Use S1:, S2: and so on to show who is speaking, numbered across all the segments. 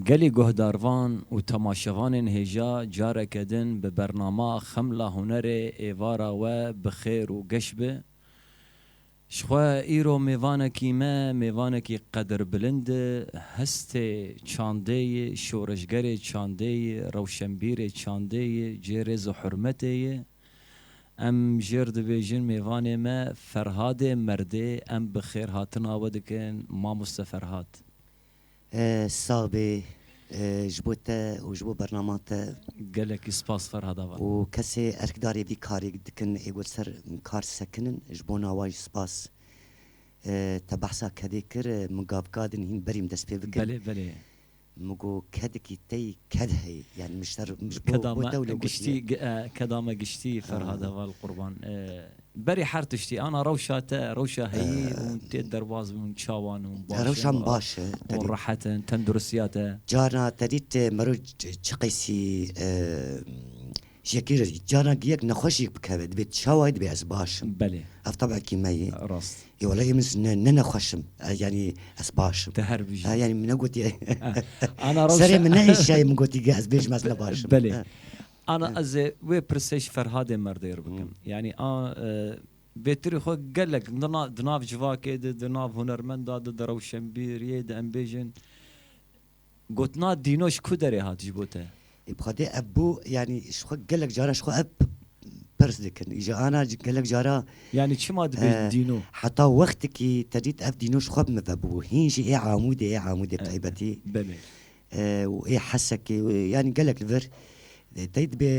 S1: Gelê guhdarvan û temaşevanên hêja careke din bi bernama Xemla Hunerê êvara we bi xêr û geş bi. Ji xwe îro mêvanekî me, mêvanekî qedirbilind e, hestê çandê yê, şoreşgerê çandê yê, rewşenbîrê çandê yê, cê rêz û hurmetê yê. Em jêr dibêjin mêvanê me Ferhadê merdê, em bi xêrhatina we dikin Mamoste Ferhad. Sağ bê
S2: ji bo te û ji bo bernama te. Gelekî spas
S1: Ferhad ava. Û kesê erkdarê
S2: vî karê dikin ê got ser kar sekinin ji bona wan jî spas. Te behsa kedê kir min gav gadin hîn berî min dest pê bikin. Belê belê.
S1: Min got
S2: kedikî tey ked heye yani min ji te re min ji bo te wilo
S1: gotiye. Keda me giştî Ferhad ava li qurban. Berê her tiştî ana rewşa te, rewşa heyî hûn tê derbas bûn, çawan hûn baş in. Rewşa min baş
S2: e. Hûn rehet in,
S1: tenduristiya te. Carna te dît
S2: meriv çi qîsî jekê re dît. Carna giyek nexweşîk bikeve dibê çawa ye dibê ez baş im. Belê. Ev tebekî
S1: me ye.
S2: Rast. Yê wele yê
S1: min
S2: ne nexweş im. Yanî ez baş im. Te her bijî. Yanî
S1: min ne
S2: gotiye. Ana
S1: rewşa. Serê min ne hêşiyaye min
S2: gotî geh ez bêjim ez ne baş im. Belê.
S1: Ana ez ê wê pirsê ji Ferhadê Merdêr bikim. Yanî a vêtirî xwe gelek di nav civakê de, di nav hunermenda de, di rewşenbîriyê de em bêjin gotina dîno ji ku derê hat ji bo te? Bi xwedê ev bû
S2: yanî ji xwe gelek caran ji xwe ev pirs dikin. Îja ana gelek caran. Yanî çima
S1: dibêjin dîno? Heta wextikî
S2: te dît ev dîno ji xwe bi min ve bû. Hîn jî ê Amûdê ê Amûdê taybetî. Belê.
S1: û ê
S2: Hesekê yanî gelek li vir tey dibe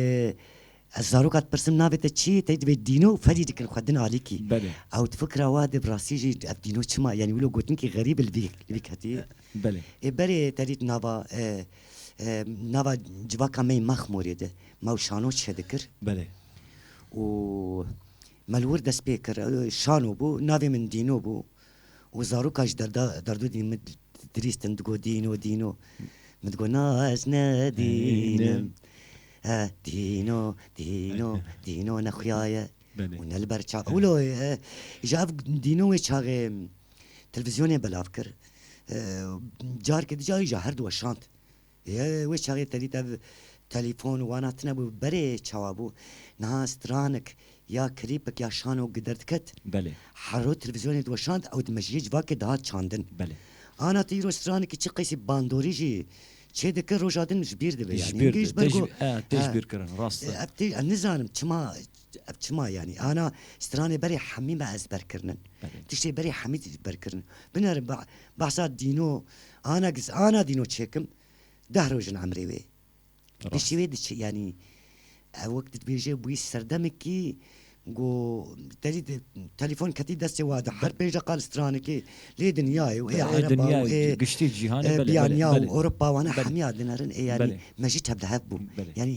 S2: ez zaroka dipirsim navê te çi ye tey dibe dîno û ferî dikin xwe din alîkî ew di fikira
S1: wa de
S2: bi rastî jî ev dîno çima yanî wilo gotinkî xerîb e li vî li vî ketî ê berê
S1: te dît
S2: nava nava civaka me yê Mexmûrê de me û Şano çiye dikir
S1: û
S2: me li wir dest pê kir şano bû navê min dîno bû Û zarokan ji derda derdûdî min dirîstin digot Dîno Dîno Min digot na ez ne dînim E Dîno Dîno Dîno ne xuya ye û ne li ber çav e Wilo ji ev Dîno wê çaxê televizyonê belav kir Careke di carî ji herdu we şand Ye wê çaxê tevî tev telîfon wana tinebû berê çawa bû niha stranik ya klîpik ya şano gider diket herro
S1: televîzyonê
S2: diweşand ew di mejiyê civakê dihat çandin ana
S1: tu îro
S2: stranikî çi qesî bandorî jî çê dikir roja din ji bîr dibe yanî engê ji ber ku ev
S1: tê ji bîr kirin rast e ev tê ez nizanim
S2: çima Ev çima yanî ana stranê berê hemî me ez ber kirinin. Tiştê berê hemî dî ber kirinin. Binerin behsa dîno ana giz ana dîno çêkim deh roj in emrê wê. Tiştê wê diçe yanî ev wek dibêje bûyî serdemekî go tedî telefon ketî destê wa de her pênc deqan stranekê lê dinyayê û êya ereba û ê giştî
S1: cîhanê belê belê belê. Ewropa
S2: wana hemî ya dinerin ê yanî me jî tevlihev bûm yanî.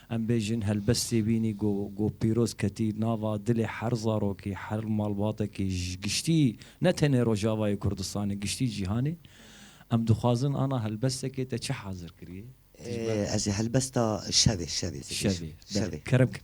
S1: Em bêjin helbestê bînî ku ku pîroz ketî nava dilê her zarokî, her malbatekî ji giştî ne tenê Rojavayê Kurdistanê giştî cîhanê. Em dixwazin ana helbestekê te çi hazir kiriye? Dijber. Ez ê
S2: helbesta şevê, şevê dibêjim. Şevê. Şevê. Kerem kin.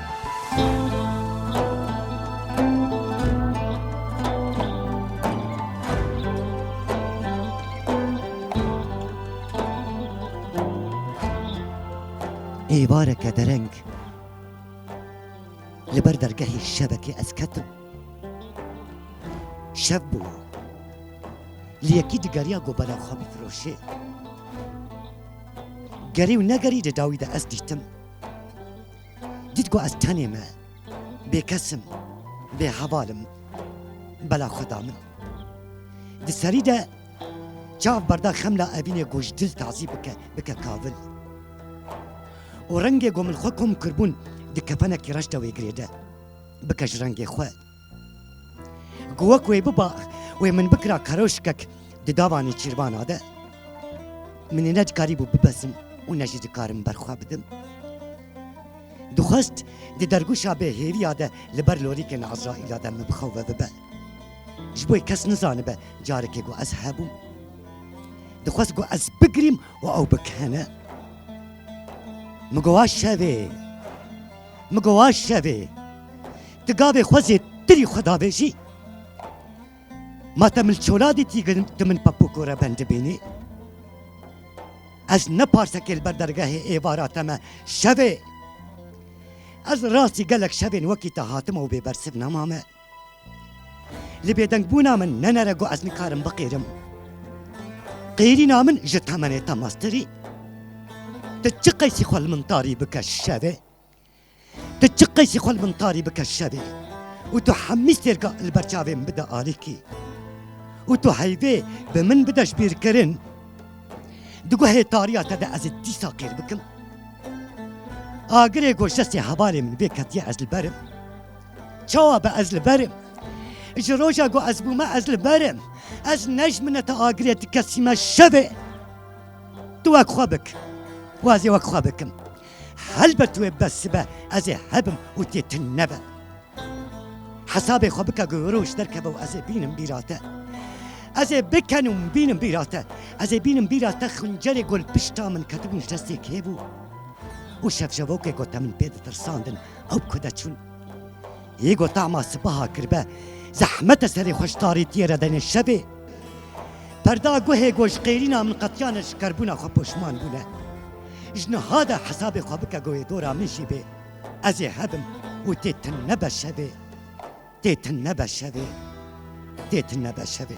S2: êvareke dereng li ber dergehê şevekê ez ketim. Şev bû. Li yekî digeriya gobela xwe bifiroşê. Gerî û negerî di dawî de ez dîtim. Dît ku ez tenê me, bêkes im, bêheval im. Bela xwe da min. Di serî de çav berda xemla evînê ku ji dil tazî bike, bike kavil. Û rengê ku min xwe kom kiribûn di kefenekî reş de wê girêde, bike ji rengê xwe. Ku wek wê biba wê min bikira keroşkek di davanê çîrbana de min ê nedikarîbû bibezim û ne jî dikarim berxwe bidim. Dixwest di dergûşa bêhêviya de li ber lorîkên Ezraîla de min bixewe bibe. Ji bo kes nizanibe carekê ku ez hebûm. Dixwest ku ez bigirîm û ew bikene. Min gowa şevê. Min gowa şevê. Ti gavê xwe zê tirî xwe dabêjî. Ma te mil çola dîtî tu min pepûk û reben dibînî. Ez ne parsekê li ber dergehê êvara te me şevê. Ez rastî gelek şevên wekî te hatime û bêbersiv nemame. Li bêdengbûna min nenere got ez nikarim biqêrim. Qêrîna min ji temenê te mestirî. Ti çi qeysî xwe li min tarî bike şevê. Tu çi qeysî xwe li min tarî bike şevê û tu hemî sêrga li ber çavê min bide alîkî û tu heyvê bi min bide ji bîrkirin di guhê tariya te de ez ê dîsa kêr bikim agirê goşesê hevalê min bê ketiye ez li berim çawa be ez li berim ji roja ku ez bûme ez li berim ez nejmine te agirê tu kesîme şevê tu wek xwe bik wazê wek xwe bikim Helbet wê besibe ez ê hebim û tê tun nebe. Hesabê xwe bike ku roj derkeve û ez ê bînim bîra te. Ez ê bikenûm bînim bîra te. Ez ê bînim bîra te xincerê ku li pişta min ketibûn ji destê kê bû û şevşevokê ku te min pê ditirsandin ew ku de çûn. Yê ku tahma sipaha kirbe zehmet e serê xwe ji tarîtiyê re denê şevê. Perda guhê ku ji qêrîna min qetiyane ji kerbûna xwe poşman bûne. Ji niha de hesabê xwe bike ku wê dora min jî bê. Ez ê hebim û tê tim nebe şevê. Tê tim nebe şevê. Tê tim nebe şevê.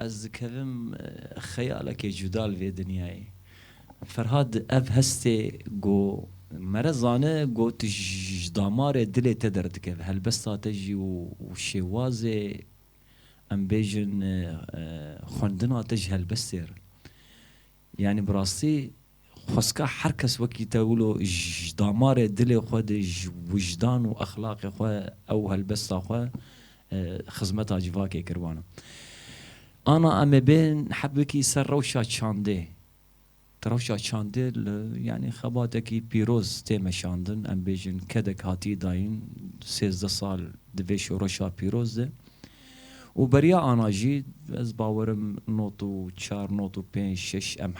S1: Ez dikevim xeyalekê cuda li vê dinyayê. Ferhad ev hestê ku me re zane ku tu ji damarê dilê te derdikeve, helbesta te jî û şêwazê em bêjin xwendina te ji helbestê re. Yanî bi rastî xweska her kes wekî te wilo ji damarê dilê xwe de ji wijdan û exlaqê xwe ew helbesta xwe xizmeta civakê kir wana. Ana em ê bên heb wekî ser rewşa çandê. Di rewşa çandê li yanî xebatekî pîroz tê meşandin. Em bêjin kedek hatiye dayîn sêzdeh sal di vê şoreşa pîroz de. Û beriya ana jî ez bawer im not û çar not û pênc şeş em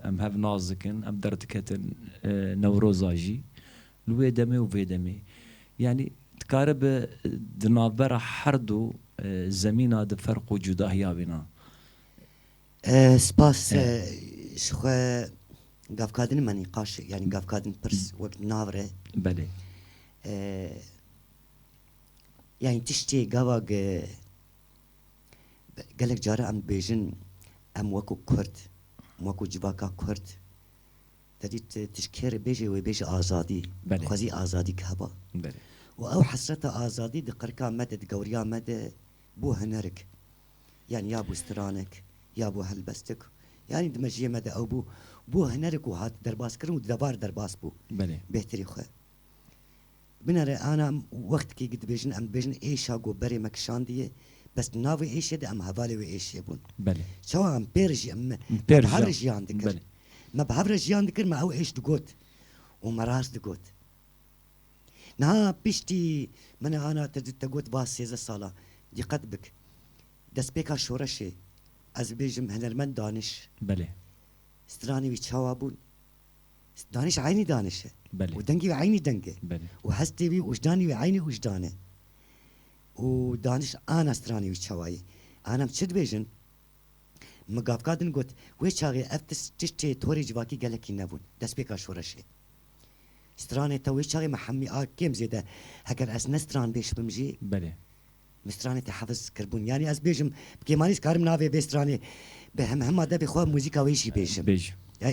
S1: em hev nas dikin em derdiketin Newroza jî li wê demê û vê demê yanî dikaribe di navbera her du zemîna de ferq û cudahiya bîna. Spas
S2: ji xwe gavkadin me nîqaş yanî gavkadin pirs wek navre. Belê. Yanî tiştê gava ge gelek care em dibêjin em weko kurd weko civaka kurd tedî tişt kê re bêjê wê bêjê azadî dixwazî azadî ke heba û ew hesreta azadî di qirika me de di gewriya me de bû hunerik yanî ya bû stranek ya bû helbestik yanî di mejiyê me de ew bû bû hunerik û hat derbaskirin û di devar derbas bû bêhtirî xwe. Binare ana wextikê ku dibêjin em dibêjin êşa ku berê me kişandiye, bes di nav wê êşê de em hevalê wê êşê bûn. Çawa em pê re jî em me bi hev re jiyan dikir. Me bi hev re jiyan dikir, me ew êş digot û me rast digot. Niha piştî min e ana te te got va sêzdeh sal e. Dîqet bik. Destpêka şoreşê ez bibêjim hunermend daniş. Stranê wî çawa bûn? Daniş eynî daniş e û dengî wî eynî
S1: deng e
S2: û hestê wî
S1: û wijdanê
S2: wî eynî wijdan e û daniş ana stranê wî çawa ye. An em çi dibêjin? Min gavka din got, wê çaxê ev tiştê torê civakî gelekî nebûn, destpêka şoreşê. Stranê te wê çaxê me hemî a kêm zêde heger ez ne stranbêj bim jî.
S1: Min stranê te
S2: hefiz kirbûn. Yanî ez bêjim bi kemanî ez karim navê vê stranê bi hemhema debê xwe muzîka wê jî bêjim. Bêj.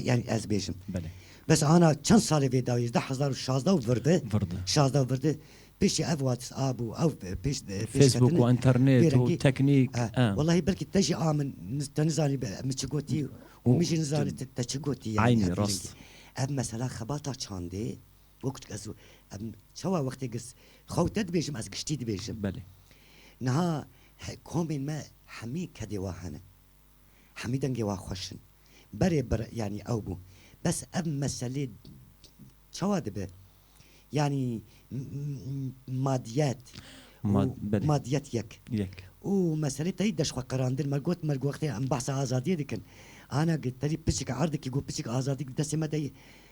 S2: Yanî ez bêjim. Belê. Bes ana
S1: çend
S2: salê vê dawî hêzdeh hezar û şazdeh û vir di. Vir di. Şazdeh û vir di. Pêşî ev wats ap û ew pêş pêşketinê. Facebook û internet
S1: û teknîk. Wellahî belkî te
S2: jî a min te nizanî min çi gotî û min jî nizanî te çi gotî. Aynî rast.
S1: Ev mesela
S2: xebata çandê. Wek tu ez em çawa wextê girs xew te dibêjim ez giştî dibêjim. Belê.
S1: Niha
S2: komên me hemî kedê wa hene. Hemî dengê wa xweş in. Berê bir yanî ew bû. Bes ev meselê çawa dibe? Yanî madiyet Ma, belê. madiyet yek. Yek. Û meselê teyî deşxweqirandin me got me wextê em behsa azadiyê dikin. Ana terî piçik erdikî got piçik azadî destê me de ye.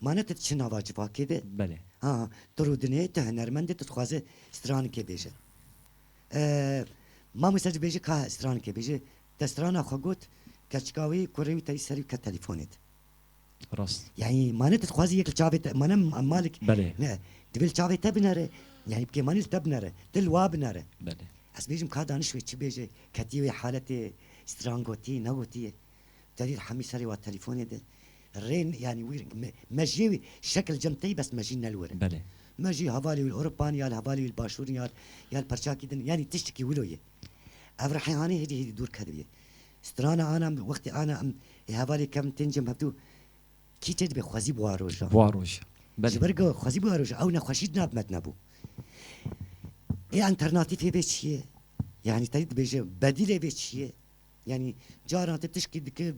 S2: Ma ne tu diçî nava civakê de. Belê. Ha,
S1: tu rûdinê,
S2: tu hunermend î, tu dixwazî stranikê bêje. Mamoste dibêje ka stranikê bêje, te strana xwe got, keçika wî, kurê wî tevî serî ket telîfonê de. Rast.
S1: Yanî ma ne tu
S2: dixwazî yek li çavê te, ma ne malik. Belê. Ne, divê li
S1: çavê te
S2: binere, yanî bi kêmanî li te binere, tu li wa binere. Belê. Ez
S1: bêjim ka daniş
S2: wê çi bêje, ketî wê haletê, stran gotî, negotî ye. Delîl hemî serê wa telîfonê de rê yanî wîr me jî şekil cem tey bes me jî nel were. Belê. Me jî
S1: hevalê wî li
S2: Ewropa nî ya li hevalê wî li başûr nî ya ya li perçakî din yanî tiştikî wilo ye. Ev rihêhanî hêdî hêdî dûr kedibiye. Strana ana em wextê ana em ê hevalê kevin tên cem hevdû kî tê dibe xwezî bûa roja. Bûa roja. Belê. Ji ber ku xwezî bûa roja ew nexweşî di nav me de nebû. Ê enternatifê vê çi ye? Yanî tedî dibêje bedîlê vê çi ye? Yanî cara te tişkî dike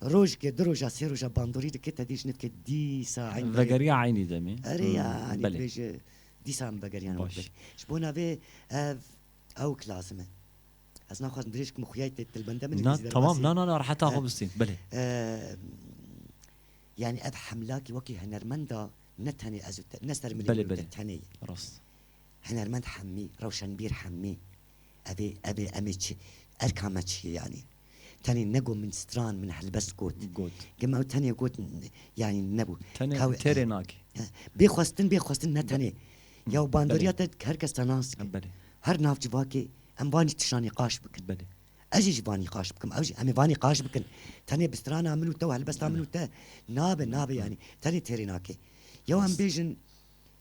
S2: rojke, du roja, sê roja bandorî dike te dê ji nivke dîsa eyn berê. Vegeriya eynî demê.
S1: Erê yanî
S2: dibêje dîsa min vegeriyan wek berê. Ji bo navê ev ewk lazim e. Ez naxwazim dirêj bikim xuyayê tê tilbende min îngilîzî derbasî. Na temam na na na reheta
S1: xwe bistîn belê.
S2: Yanî ev hemlakî wekî henermenda ne tenê ez û te ne ser min û te tenê ye. Belê belê rast.
S1: Hinermend
S2: Hemmî, rewşenbîr Hemmî, Ev ê, ev ê, em ê çi, erka me çi ye yanî? Tenê ne got min stran, min helbest got. Got. Gima ew tenê got yanî nebû. Tenê Ka wê têrê nake.
S1: Bê xwestin, bê
S2: xwestin ne tenê ya û bandoriya te her kes te nas dike. Belê. Her nav civakê em van jî tişa nîqaş bikin. Belê. Ez jî ji
S1: van nîqaş
S2: bikim, ew jî em ê van nîqaş bikin. Tenê bi strana min û te û helbesta min û te nabe, nabe yanî. Tenê têrê nake. Yew em bêjin.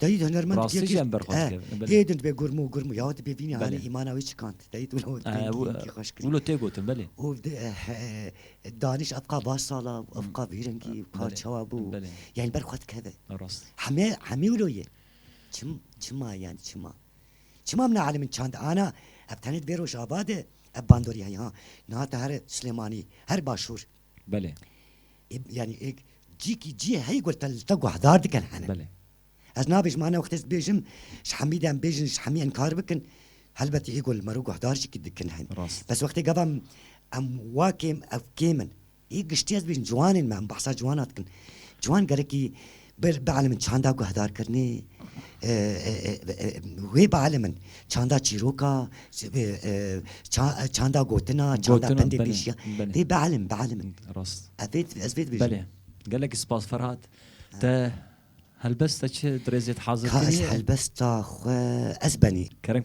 S2: Dayî hunermend bi yekê
S1: hê din dibe
S2: gurm û gurm û ya dibê vînê anî îmana wî çikand. Dayî tu wilo pêngî xweş kirî.
S1: Wilo tê gotin belê. Û
S2: danîş ev qa baş sal a û ev qa vî rengî û ka çawa bû yanî ber xwe dikeve. Hemê
S1: hemî wilo
S2: ye. Çim çima yanî çima. Çima min elîmin çand ana ev tenê di vê rojava de ev bandorî heye ha. Niha te here Silêmanî her başûr Belê.
S1: Ê yanî
S2: ê cîkî cî heyî ku te li te guhdar dikin hene. Belê. Ez
S1: nabêjim ane
S2: wextê ez bêjim ji hemî de em bêjin ji hemî inkar bikin helbetî ê ku li me re guhdar jîkî dikin hene. Rast. Bes wextê gava em em wa kêm ew kêm in. Ê giştî ez bêjim ciwanên me em behsa ciwana dikin. Ciwan gelekî Ber bi elm çanda guhdarkirinê wê bi elm in çanda çîroka çanda gotina çanda pendê pêşiya vê bi elm bi elm in. Rast. Ez
S1: vê ez vê dibêjim.
S2: Belê. Gelek spas
S1: Ferhat. Te helbesta çi dirêzê dihazir kirî ye? Ka ez helbesta xwe
S2: ez benî. Kerem.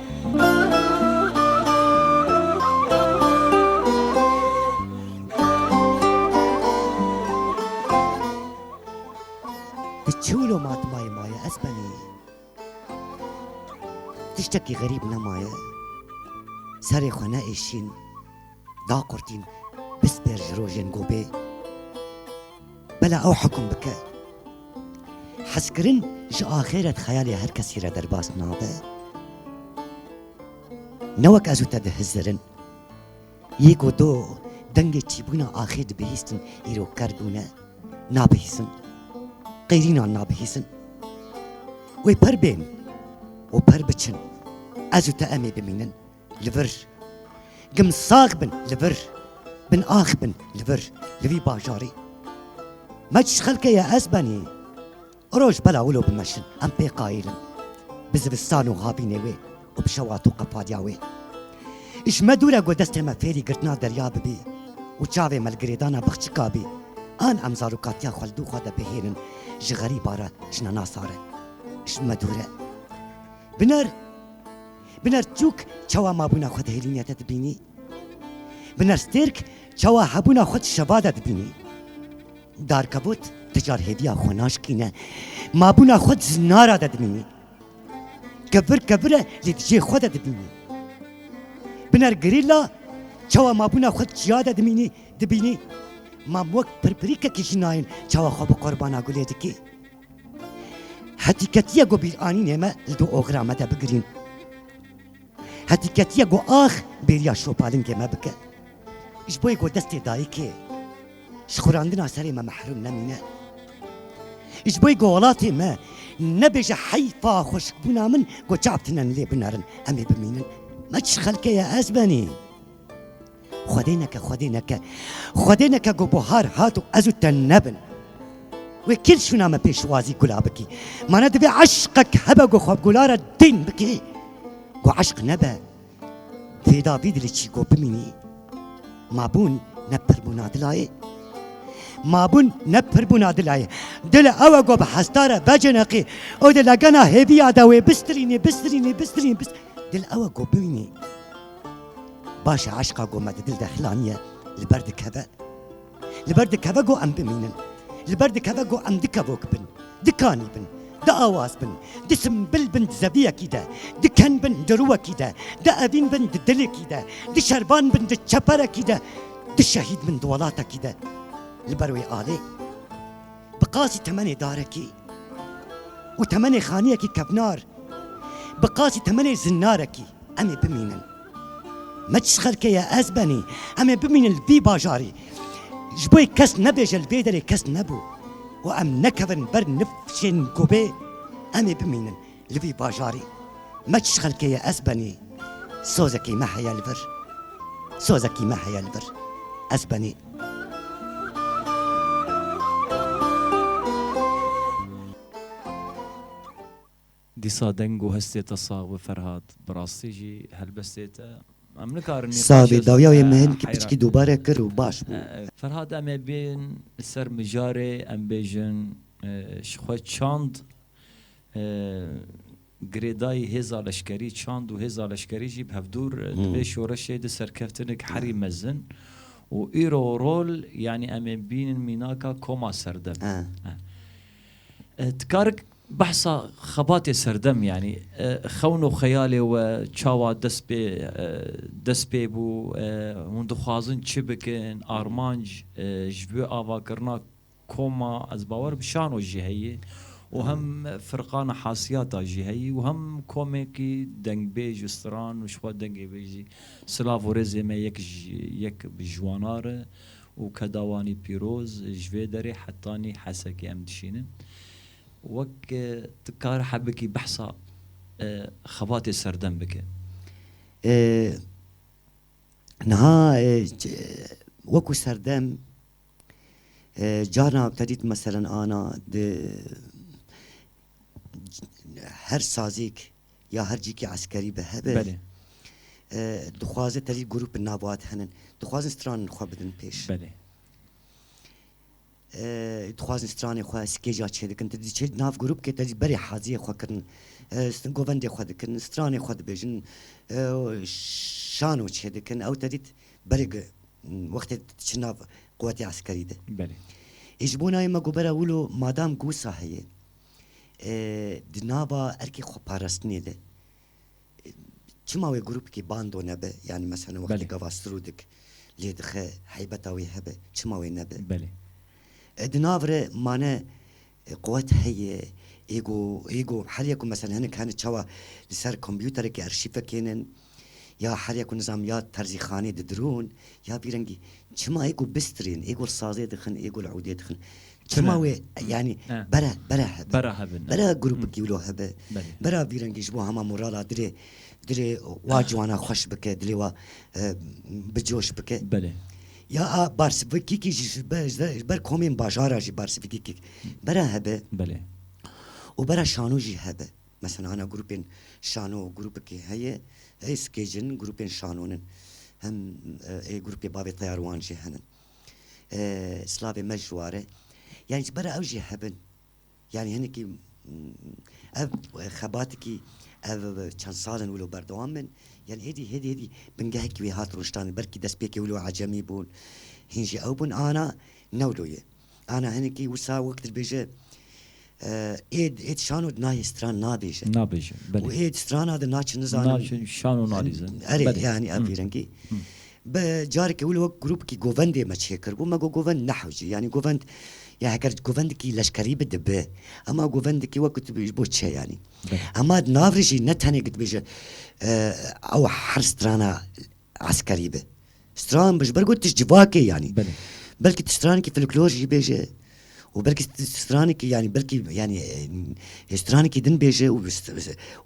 S2: Di çûlo matmayê ma ye ez benî tiştekî xerîb nemaye serê xwe neêşîn. Da qurtîn bistêr ji rojên gobê bela ew hikûm bike. Hezkirin ji axêret xeyalê her kesî re derbas nabe. Ne wek ez û te dihizirin. Yê ku tu dengê çîbûna axê dibihîstin îro ker bûne. Nabihîsin. Qeyrînan nabihîsin. Wê per bên û per biçin. Ez û te em ê bimînin. li vir Gim sax bin li vir Bin ax bin li vir Li vî bajarê Me çi xelkê ye ez benê Roj bela wilo bimeşin em pê qayîlin Bi zivistan û havînê wê û bi şewat û qefaliya wê Ji me dûr e ku destê me fêrî girtina derya bibî Û çavê me li girêdana bixçika bî An em zarokatiya xwe li dû xwe de bihêlin Ji xerîba re jina nasa re ji me dûr e Biner Binerçûk çawa mabûna xwe di hêlînê de dibînî? Binerstêrk çawa hebûna xwe di şeva de dibînî? Darkevût ti car hêviya xwe naşikîne, mabûna xwe di zinara de dibînî. Kevir kevir e lê di cihê xwe de dibînî. Biner gerîla çawa mabûna xwe di çiya de dimînî, dibînî? Mam wek pirpirîkekî jî nayên çawa xwe bi Qorbana Gulê dikî. Hetîketiye ku bîranînê me li du oxira me de bigirîn. Hetîketiye ku ax bêriya şopalingê me bike. Ji bo yê ku destê dayikê ji xurandina serê me mehrûm nemîne. Ji bo yê ku welatê me nebêje heyfa xweşikbûna min ku çav tune li lê binerin em ê bimînin. Me çi xelkê ye ez benî? Xwedê neke, Xwedê neke, Xwedê neke ku buhar hat û ez û te nebin. Wê kîl şûna me pêşwazî gula bikî. Mana divê eşqek hebe ku xwe bi gula re dîn bikî. Ku eşq nebe, fêda bî dilê çî ku bimînî. Ma bûn ne pir bûna dila yê. Ma bûn ne pir bûna dila yê. Dil ew e ku bi hesta re vecineqî û di legena hêviya de wê bistirînî, bistirînî, bistirînî, bistirînî. Dil ew e ku bimînî. Baş e eşqa ku me di dil de hilaniye li ber dikeve. Li ber dikeve ku em bimînin. Li ber dikeve ku em dikevok bin, dikanî bin, di awaz bin, di simbil bin di zeviyekî de, di ken bin di rûwekî de, di evîn bin di dilekî de, di şervan bin di çeperekî de, di şehîd bin di welatekî de. Li ber wê alê. Bi qasî temenê darekî û temenê xaniyekî kevnar, bi qasî temenê zinnarekî em ê bimînin. Me çi xelkê ye ez benî, em ê bimînin li vî bajarî. Ji bo yê kes nebêje li vê derê kes nebû û em nekevin ber nifşên gobê em ê bimînin. Li vî bajarî me çi xelkê ye ez benî sozekî me heye li vir sozekî me heye li vir ez benî.
S1: Dîsa deng û hestê te sax be Ferhad, bi rastî jî helbestê te em nikarin nîqaşê Sağ
S2: bî dawya wê me hinkî piçikî dubare kir û baş bû. Ferhad em ê
S1: bên li ser mijarê em bêjin ji xwe çand Girêdayî hêza leşkerî, çand û hêza leşkerî jî bi hevdûr di vê şoreşê de serkeftinek herî mezin û îro rol yanî em ê bînin mînaka koma serdem. Dikarik behsa xebatê serdem yanî xewn û xeyalê we çawa dest pê dest pê bû, hûn dixwazin çi bikin, armanc ji bo avakirina Koma ez bawer bi şano jî heye û hem firqana hasiyata jî heye û hem komekî dengbêj û stran û ji xwe dengê wê jî silav û rêzê me yek ji yek bi ji wan a re û kedawanî pîroz ji vê derê hetanî Hesekê em dişînin. Wek tu kar he bikî behsa xebatê serdem bike.
S2: Niha wek û serdem. Carna Kadît meselen ana di her sazêk ya her cîkê eskerî bi hebe dixwaze tevî grûp navbat henin. Dixwazin stranên xwe bidin pêş. Dixwazin stranên xwe skêca çêdikin. Ti diçe nav grûpkê tevî berê haziyê xwe kirin. Govendê xwe dikin, stranê xwe dibêjin, şano çêdikin. Ew tevî berê ku wextê diçin nav quwetê eskerî de. Belê. Ê
S1: ji bo nayê me
S2: ku bera wilo madam ku wisa heye di nava erkê xweparastinê de çima wê grûpikê bando nebe yanî meselen wextê gava sirodik lê dixe heybeta wê hebe çima wê nebe. Belê.
S1: Di nav
S2: re mane Quwet heye ê ku ê ku heriya ku mesela hinek hene çawa li ser kompûterekê erşîf vekênin ya heriya ku nizam ya terzîxanê didirûn ya vî rengî çima ê ku bistirên ê ku li sazê dixin ê ku li ûdê dixin çima wê yanî bera bera hebin bera grûpikî wilo hebe bera vî rengî ji bo hema morala dilê dilê wa ciwana xweş bike dilê wa bi coş bike. Ya
S1: a
S2: barsivîkîkî jî ji ber ji ber komên bajara jî barsivîkîkîk bera hebe. Belê.
S1: Û bera
S2: şano jî hebe. Mesela hana grûpên şano grûpikî heye ê skecin grûpên şanon in. Hem ê grûpê bavê teyar wan jî henin. Slavê me ji ware. Yanî ji bera ew jî hebin. Yanî hinekî ev xebatekî ev çend sal in wilo berdewam bin. Yanî hêdî hêdî hêdî bingehekî wê hat rojtanê. Belkî destpêkê wilo ecemî bûn. Hîn jî ew bûn ana ne wilo ye. Ana hinekî wisa wek dibêje êd êd şano di nayê stran nabêje. Nabêje belê. Û êd strana di naçin nizanim. Naçin şano nalîzin.
S1: Erê yanî ev
S2: vîrengî. Bi carekî wilo wek grûpkî govendê me çê kir bû, me got govend nehewcî, yanî govend ya heger govendikî leşkerî bi dibi, hema govendikî wek tu ji bo çi yanî. Hema di nav re jî ne tenê ku tu bêje ew her strana eskerî bi, stran bi ji ber ku tişt civakê yanî. Belkî tu stranekî filiklor jî bêje. û belkî stranekî yanî belkî yanî stranekî din bêje û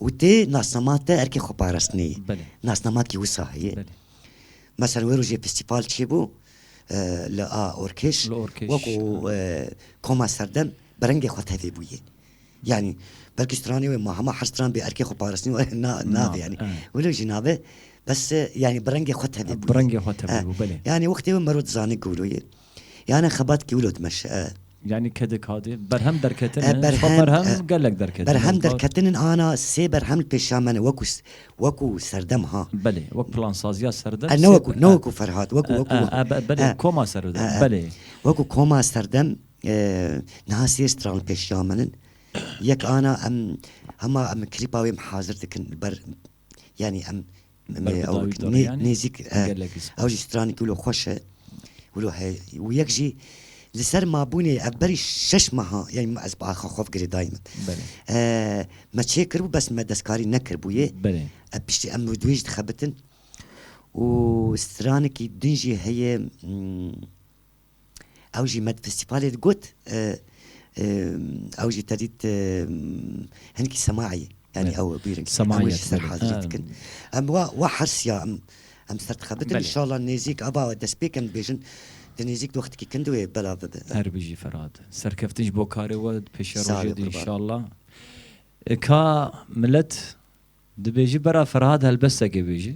S2: û tê nasnama te erkê xwe parastinê ye. Belê. Nasnama kî wisa heye. Belê. Mesela wê rojê festîval çêbû li a orkêş wekû koma serdem bi rengê xwe tevê bûye. Yanî belkî stranê wê ma hema her stran bê erkê xwe parastinê were na nabe yanî. Wilo jî nabe bes yanî bi rengê xwe tevê bûye. Bi rengê xwe tevê bû belê.
S1: Yanî wextê wê mero dizanê
S2: ku wilo ye. Yanî xebat kî wilo dimeşe e. Yanî ke di
S1: ka dê berhem derketin e, xwe berhem gelek derketin e. Berhem derketinin
S2: ana sê berhem li pêşa me ne wekû wekû serdem ha. Belê wek plansaziya
S1: serdem sê. Ne wekû ne wekû Ferhat
S2: wekû wekû. Belê koma
S1: serdem belê. Wekû koma
S2: serdem niha sê stran li pêşiya min in. Yek ana em hema em klîpa wê em hazir dikin li ber yanî em Me ew bi nêzîk ew jî stranî ku wilo xweş e wilo heye û yek jî li ser mabûnê ev berî şeş meha yanî ez bi axa xwe girê dayî min me çêkiribû bes me destkarî nekiribûyê ev piştî em wê jî dixebitin û stranekî din jî heye Ew jî medfestîfalê de got ew jî tedît hinkî semayî yanî ew bîr semayî ser hazirî
S1: dikin
S2: em wa wa hersiya em em ser dixebitin inşallah nêzîk ava destpêk em dibêjin di nêzîk wextikî kin di wê belav bibe. Her bijî Ferhat.
S1: Serkeftin ji bo karê we di pêşiya rojê de inşallah. Ka milet dibêji bera Ferhat helbestekê bêji.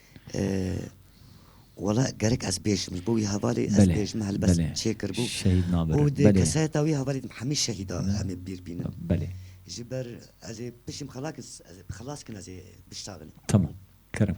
S2: Wala gerek ez bêjim ji bo wî hevalê ez bêjim helbest çêkiribû û di
S1: kesayeta wî
S2: hevalê de hemî şehîda em ê bîr bînin. Ji
S1: ber
S2: ez ê piştî min xelakir ez ê xilas kin ez ê
S1: biştavin. Tamam.
S2: Kerem.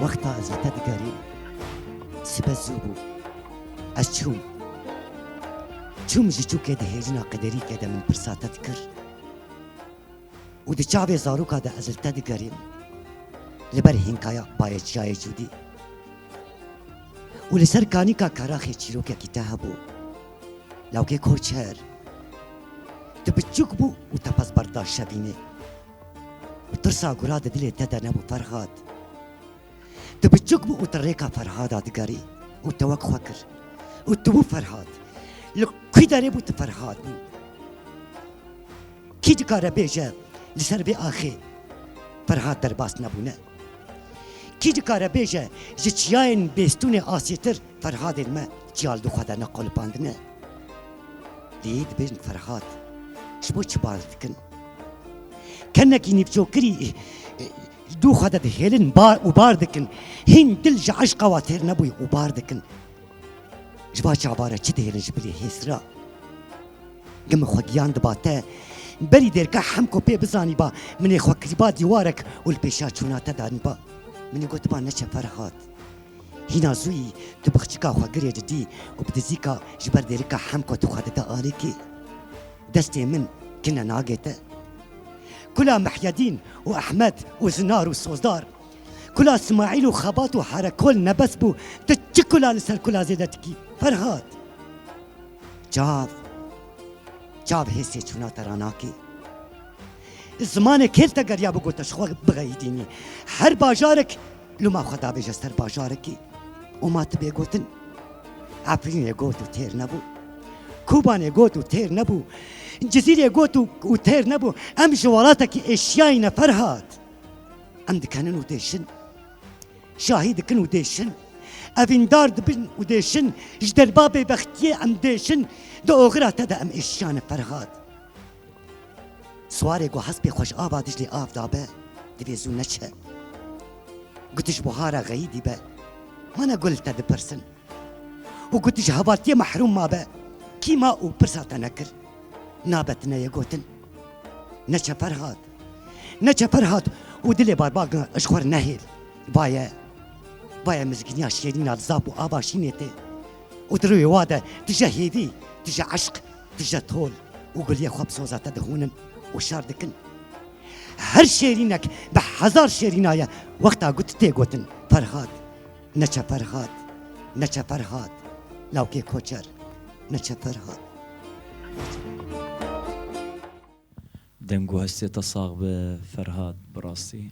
S2: Wexta ez li te digerîm sibe zû bû. Ez çûm. Çûm ji çûkê di hêjina qederîkê de min pirsa te dikir û di çavê zarûka de ez li te digerîm li ber hînkaya Bayê Çiyayê Cûdî û li ser kanîka keraxê çîrokekî te hebû. Lawkê Korçer. Tu biçûk bû û te pez berda şevînê. Tirsa gura di dilê te de nebû Ferhad. Tu biçûk bû û tu rêka Ferhada digerî û te wek xwe kir û tu bû Ferhad. Li kî derê bû tu Ferhad bû? Kî dikare bêje li ser vê axê Ferhad derbas nebûne? Kî dikare bêje ji çiyayên bêstûnê asîtir Ferhadên me çiya li xwe de neqolipandine, lê dibêjin Ferhad ji bo çi baz dikin? Kenekî nîvçokirî li dû xwe de dihêlin û bar dikin, hîn dil ji eşqa we têr nebûye û bar dikin. Ji va çava re çi dihêlin ji bilî hês re? Gin min xwe giyan diba te, berî dêrka hemko pê bizanîba, min ê xwe kiriba dîwarek û li pêşa çûna te danîba. Min ê gotiba neçe Ferhad. Hîna zûyî tu bi xçika xwe girê cidî û bi dizîka ji ber dêrika hemko tu xwe dide alîkî. Destê min kine nagê te. Kula Mihyedîn û Ehmed û Zinar û Sozdar, kula Simaîl û Xebat û Herekol nebes bû, tu çi kula li ser kula zêde dikî? Ferhat! Çav, çav hêsê çûna te ra nakê. Zimanê kêl te geriya bû ku te ji xwe bixeyîdînî. Her bajarek Lû ma xwe dabêje ser bajarekî û ma tu bê gotin Efrînê got û têr nebû, Kobanê got û têr nebû, Cizîrê got û têr nebû, em ji welatekî Êşiyayê ne Ferhat. Em dikenin û dêşin, şahî dikin û dêşin, evîndar dibin û dêşin, ji derba bêbextiyê em dêşin, di oxira te de em êşiya ne Ferhat. Swarê ku hespê xwe ji ava Diclê av dabe, divê zû neçe. Ku tu ji buhara xeyî dîbe, mana gul li te dipirsin. Û ku tu ji hevaltiyê mehrûm mabe, kî ma û pirsa te nekir? Nabe tu neyê gotin. Neçe Ferhat. Neçe Ferhat û dilê Barbagna ji xwe re nehêl. Vaye. Vaye mizgîniya şêrîna li zaf û ava şînê tê. Û di rûyê wa de tu ji hêvî, tu ji eşq, Dije tol û guliyê xwe bi soza te dihûnin û şar dikin. Her şêrînek bi hezar şêrînaye wexta got tê gotin Ferhat, neçe Ferhat, neçe Ferhat, lawkê koçer, neçe Ferhat.
S1: Deng û hestê te sax be Ferhat, bi rastî.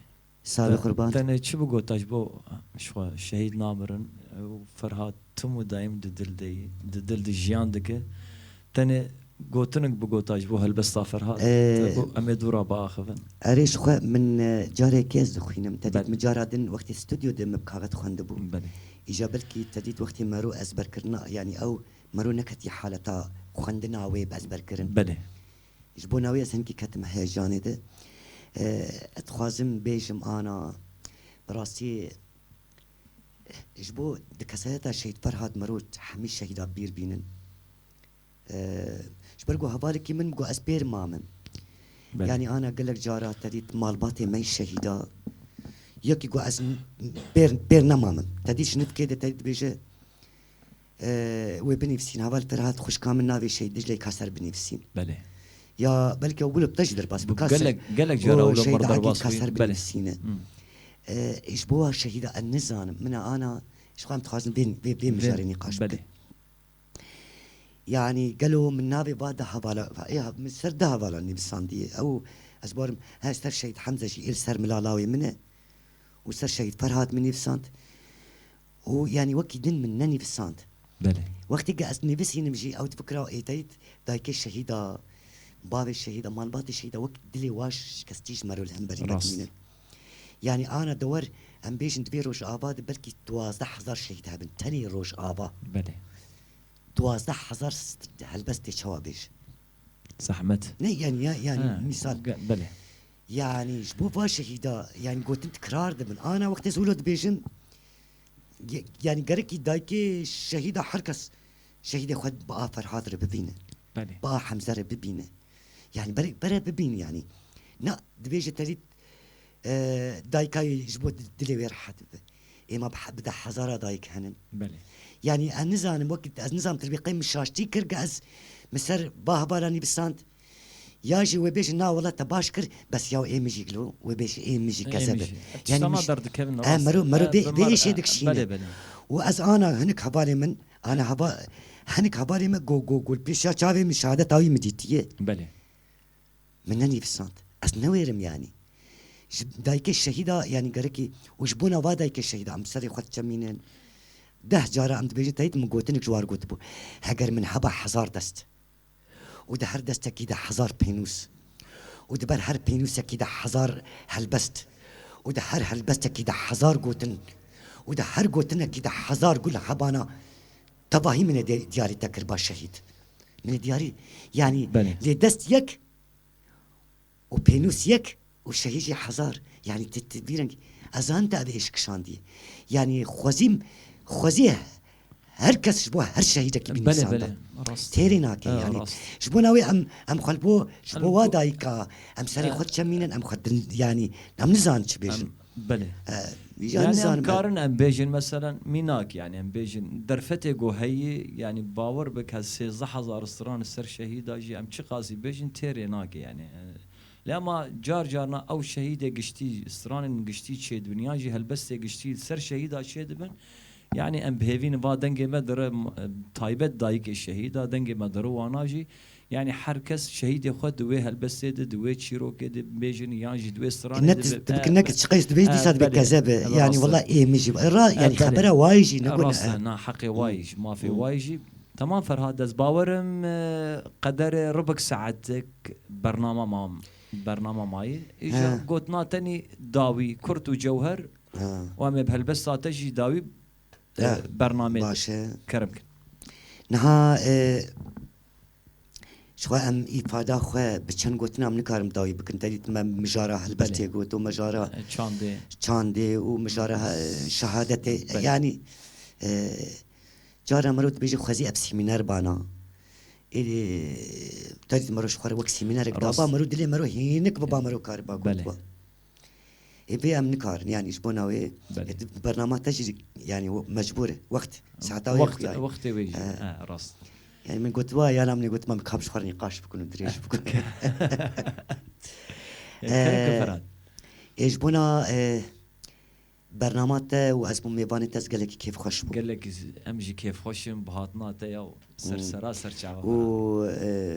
S1: Sağ bi qurban.
S2: Tenê çi bigota ji bo
S1: ji xwe şehîd namirin û Ferhat tim û daîm di dil de yî, di dil de jiyan dike. Tenê gotinik bigota ji bo helbesta Ferhat te ku em ê dû re biaxivin. Erê ji xwe min
S2: careke ez dixwînim. Te dît min cara din wextê stûdyo de me bi kaxet xwendibû. Îja
S1: belkî te
S2: dît wextê me rû ezberkirina yanî ew me rû neketiye haleta xwendina wê bi ezberkirin.
S1: Ji bo navê ez
S2: hingî ketime heyecanê de. Ez dixwazim bêjim ana bi rastî ji bo di kesayeta Şehîd Ferhad Merût hemî şehîda bîr bînin. Ji ber ku hevalekî min got ez pêr mamim. Yanî ana gelek cara te dît malbatê me şehîda yekî got ez pêr pêr nemamim. Te dît ji nivkê de te dibêje Wê binivîsîn heval te rehat xwişka min navê Şehîd Dicleyê ka ser binivîsîn. Belê.
S1: Ya belkî
S2: ew bila te jî derbas bû ka ser. Gelek jara wilo mir
S1: derbas bû. Belê. Binivîsîne.
S2: Ji bo wa şehîda ez nizanim min e ana ji xwe em dixwazin vê mijarê nîqaş bikin.
S1: Yanî
S2: gelo min navê va du hevala min ser du hevalan nivîsandiye ew ez barim he ser Şehîd Hemze jî ê li ser mila lawê min e û ser Şehîd Ferhat min nivîsand Û yanî wekî din min nenivîsand. Belê. Wextê
S1: ke ez
S2: nivîsînim jî ew difikira ê teyt dayikê şehîda, bavê şehîda, malbatê şehîda wek dilê waş şikestî ji me re li hemberî vedimîne. Yanî ana dewer em bêjin di vê rojava de belkî duwazdeh hezar şehîd hebin. Tenê rojava. Belê.
S1: Duwazdeh
S2: hezar helbestê çawa bêje. Zehmet.
S1: Ne yanî ya yanî
S2: mîsal. Belê.
S1: Yanî
S2: ji bo va şehîda yanî gotin tikrar dibin. Ana wextê Zûlo dibêjin yanî gerekî dayikê şehîda her kes şehîdê xwe bi a Ferhad re bibîne. Belê. Bi a Hemze
S1: re bibîne.
S2: Yanî berek bere bibîn yanî. Na dibêje tevî dayika yê ji bo dilê wê rehet bibe. Ê ma bi deh hezara dayik henin. Belê. Yanî ez nizanim wek ez nizanim te bi qey min şaştî kir ke ez min ser ba hevalanî bisand. Ya jî wê bêjin na welat te baş kir bes yaw ê mijîk lo wê bêjin ê mijîk kezeb e. Yanî mij
S1: e mero mero bê bê
S2: êşê dikişîne. Û ez
S1: ana
S2: hinik hevalê min ana heva hinik hevalê min go go gul pêşiya çavê min şehadeta wî min dîtiye.
S1: Min
S2: nenivîsand. Ez newêrim yanî. Ji dayikê şehîda yanî gerekî û ji bona va dayikê şehîda em bi serê xwe diçemînin. Deh cara em dibêjin teyî min gotinik ji war gotibû. Heger min heba hezar dest. û di her destekî de hezar pênûs û di ber her pênûsekî de hezar helbest û di her helbestekî de hezar gotin û di her gotinekî de hezar gul hebana tevahî min ê diyarî te kirba şehîd min ê diyarî yanî lê dest yek û pênûs yek û şehî jî hezar yanî ti ti vî rengî ez an te ev êş kişandî yanî xwezîm xwezî her kes ji bo her şehîdekî bî nûsanda têrê nake yanî ji bona wê em em xwe li bo ji bo wa dayîka em serê xwe diçemînin em xwe yanî em nizan çi bêjin. Belê.
S1: Yani em karin em bêjin meselen mînak yani em bêjin derfetê ku heyî yani bawer bike sêzdeh hezar stran li ser şehîda jî em çiqasî bêjin têrê nake yani. Lê ma car carna ew şehîdê giştî stranên giştî çêdibiniyan jî helbestê giştî li ser şehîda çêdibin yani em bihêvînin va dengê me dire taybet dayikê şehîda dengê me dire wana jî Yanî her kes şehîdê xwe di wê helbestê de, di wê çîrokê de bibêjin yan jî di wê stranê de bi. Ti ne çiqe jî
S2: dibêj dîsa dibê keze bi. Yanî wila ê min jî ra yanî xebera wayî jî ne got e. Na heqê wayî
S1: jî mafê wayî jî. Tamam Ferhat ez bawer im qederê ribik saetik bernama ma bernama ma yê. Îja gotina te nî dawî kurt û cewher û em ê bi helbesta te jî dawî bernameyê kerim
S2: bikin.
S1: Niha
S2: Ji xwe em îfada xwe bi çend gotinan nikarim dawî bikin te dît me mijara helbestê got û mijara çandê çandê û mijara şehadetê yanî cara mirov dibêje xwezî ev sîmîner bana êdî te dît mirov ji xwe re wek sîmînerek daba mirov dilê mirov hînik biba mirov kariba got Êbê em nikarin yanî ji bo navê bernama te jî yanî mecbûr e wext saeta wê jî ya wextê wê jî ya
S1: rast e. Yanî min got
S2: wa yana min got me kap ji xwe re nîqaş bikin û dirêj bikin. Ê ji bona bernama te û ez bûm mêvanê te ez gelekî kêfxweş bûm. Gelek em jî
S1: kêfxweş in bi hatina te ya ser sera ser çava me. Û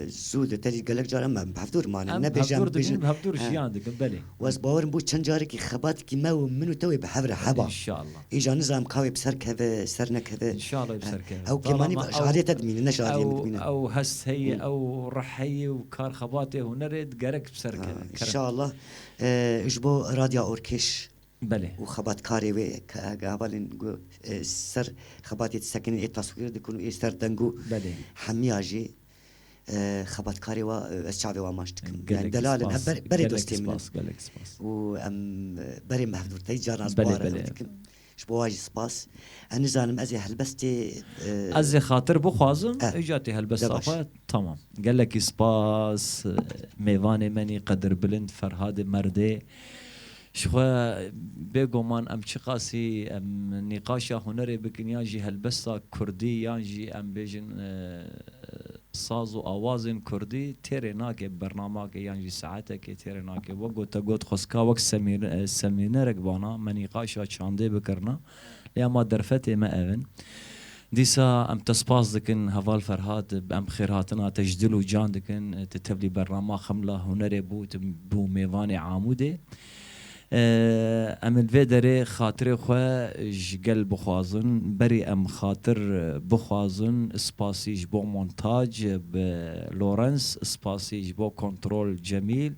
S2: zû li te jî gelek car em bi hevdûr manin nebêje em dibêjin bi hevdûr
S1: jiyan dikin belê. Û ez bawer im bû çend
S2: carekî xebatekî me û min û te wê bi hev re heba. Înşallah. Îja
S1: nizanim ka wê bi ser
S2: keve ser nekeve. Înşallah wê bi ser keve.
S1: Ew kêmanî bi şariyê
S2: te dimîne ne şariyê min dimîne. Ew hest
S1: heye ew rih heye û kar xebatê hunerê digerek bi ser keve. Kerem. Înşallah
S2: ji bo Radya Orkêş. Belê. Û
S1: xebatkarê wê
S2: ke gavalên ku ê ser xebatê disekinîn ê taswîr dikin û ê ser deng û Belê. hemiya
S1: jî
S2: xebatkarê wa ez çavê wan maş dikim. Gelek spas. Delal in, em berê dostê min in. Gelek spas. Û em berê me hevdûr tey carna ji bo wan re ew dikim.
S1: Ji bo wan jî
S2: spas. Ez nizanim ez ê helbestê. Ez ê xatir
S1: bixwazim ê ca tê helbesta xwe. Tamam. Gelekî spas mêvanê menî qedirbilind Ferhadê merdê. Jixwe bê goman em çiqasî em nîqaşa hunerê bikin yan jî helbesta kurdî yan jî em bêjin saz û awazên kurdî têrê nake bernamake yan jî saeteke têrê nake. Wek ku te got xwestka wek semînerek vana me nîqaşa çandê bikirina. Lê ema derfetê me ev in. Dîsa em te spas dikin heval Ferhat, em xêrhatina te ji dil û can dikin. Tu tevlî bernama Xemla Hunerê bû, tu bû mêvanê Amûdê. Em li vê derê xatirê xwe ji gel bixwazin, berî em xatir bixwazin, spasî ji bo montaj bi Lawrence, spasî ji bo kontrol Cemîl,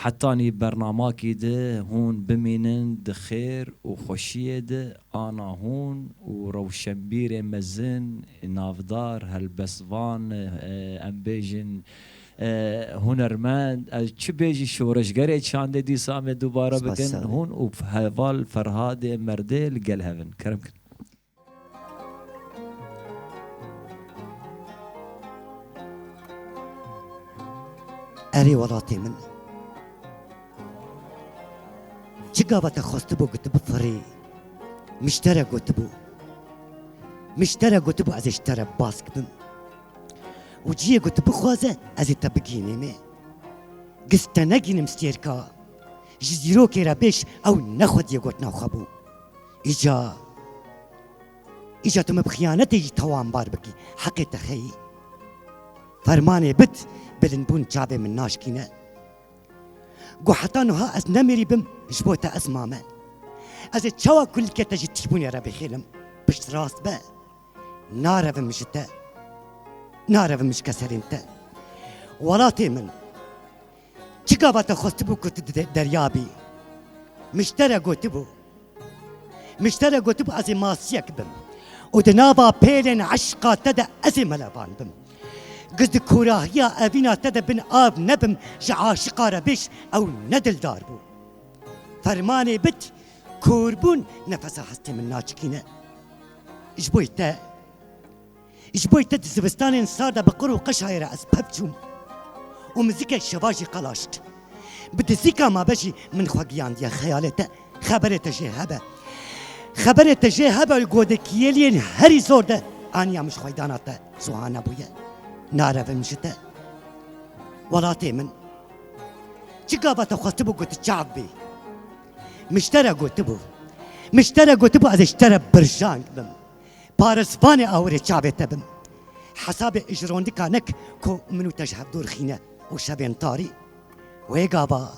S1: Hetanî bernamakî di hûn bimînin di xêr û xweşiyê di ana hûn û rewşenbîrê mezin, navdar, helbestvan, em bêjin hunermend, ez çi bêjî şoreşgerê çandê dîsa em ê dubare bikin, hûn û heval Ferhadê Merdê li gel hev in. Kerem kin.
S2: Erê welatê min çi gaveke xwestibû gotibû firê miştere gotibû miştere gotibû ez ê ji te re bask bim û ciyê got bixwaze ez ê te bigînîme giz te negînim stêrka ji zîrokê re bêş ew ne xwediyê gotina xwe bû. Îca, îca tu min bi xiyanetê jî tawanbar bikî, heqê te xeyî. Fermanê bit, bilindbûn çavê min naşkîne. Got heta nuha ez nemîrî bim, ji bo te ez mame. Ez ê çawa kulîlkê te ji tîbûnê re bixêlim, pişt rast be. Narevim ji te, narevim ji keserên te. Welatê min. Çi gava te xwestibû ku tu di derya bî? Miştere gotibû. Miştere gotibû ez ê masiyek bim û di nava pêlên eşqa te de ez ê melevan bim. Giz di kûrahiya evîna te de bin av nebim ji aşiqa re bêş ew ne dildar bû. Fermanê bit kûrbûn nefesa hestê min naçikîne. Ji bo te Ji bo te di zivistanên sar de bi qir û qeşayê re ez pev çûm û mizikek şeva jî qelaşt. Bi dizîka me be jî min xwe giyandiye xeyalê te, xeberê te jê hebe. Xeberê te jê hebe li godekiyeliyên herî zor de aniya min ji xweydana te suha nebûye. Narevim ji te. Welatê min. Çi gava te xwestibû ku tu çav bî? Min ji te re gotibû. Min ji te re gotibû ez ê ji te re birjang bim. Parispanê awirê çavê te bim. Hesabê ijrondika nek ku min û te ji hev dûr xîne û şevên tarî. Wê gava,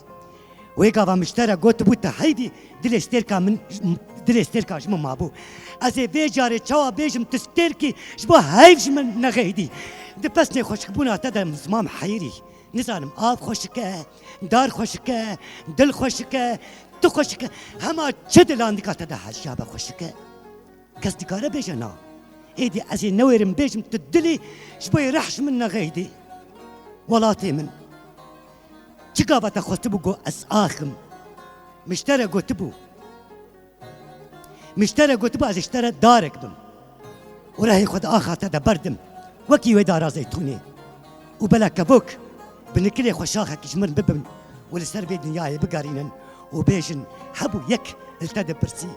S2: wê gava miştere gotibû te heydî dilê stêrka min dilê stêrka ji min mabû. Ez ê vê carê çawa bêjim tu stêrkî ji bo heyv ji min nexeydî. Di pesnê xweşikbûna te de ziman heyirî. Nizanim av xweşik e. Dar xweşik e, dil xweşik e, tu xweşik e. Hema çi dilan dikate de heşya be xweşik e. Kes dikare bêje na. Êdî ez ê newêrim bêjim tu dilî ji bo yê rehş min nexeydî. Welatê min. Çi gava te xwestibû got ez axim. Miştere gotibû. Miştere gotibû ez ji te re darek bim û rehê xwe di axa te de berdim wekî wê dara zeytûnê û bela kevok bi nikirê xwe şaxekî ji min bibin û li ser vê dinyayê bigerînin û bêjin hebû yek li te dipirsî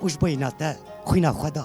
S2: û ji bo yîna te xwîna xwe da.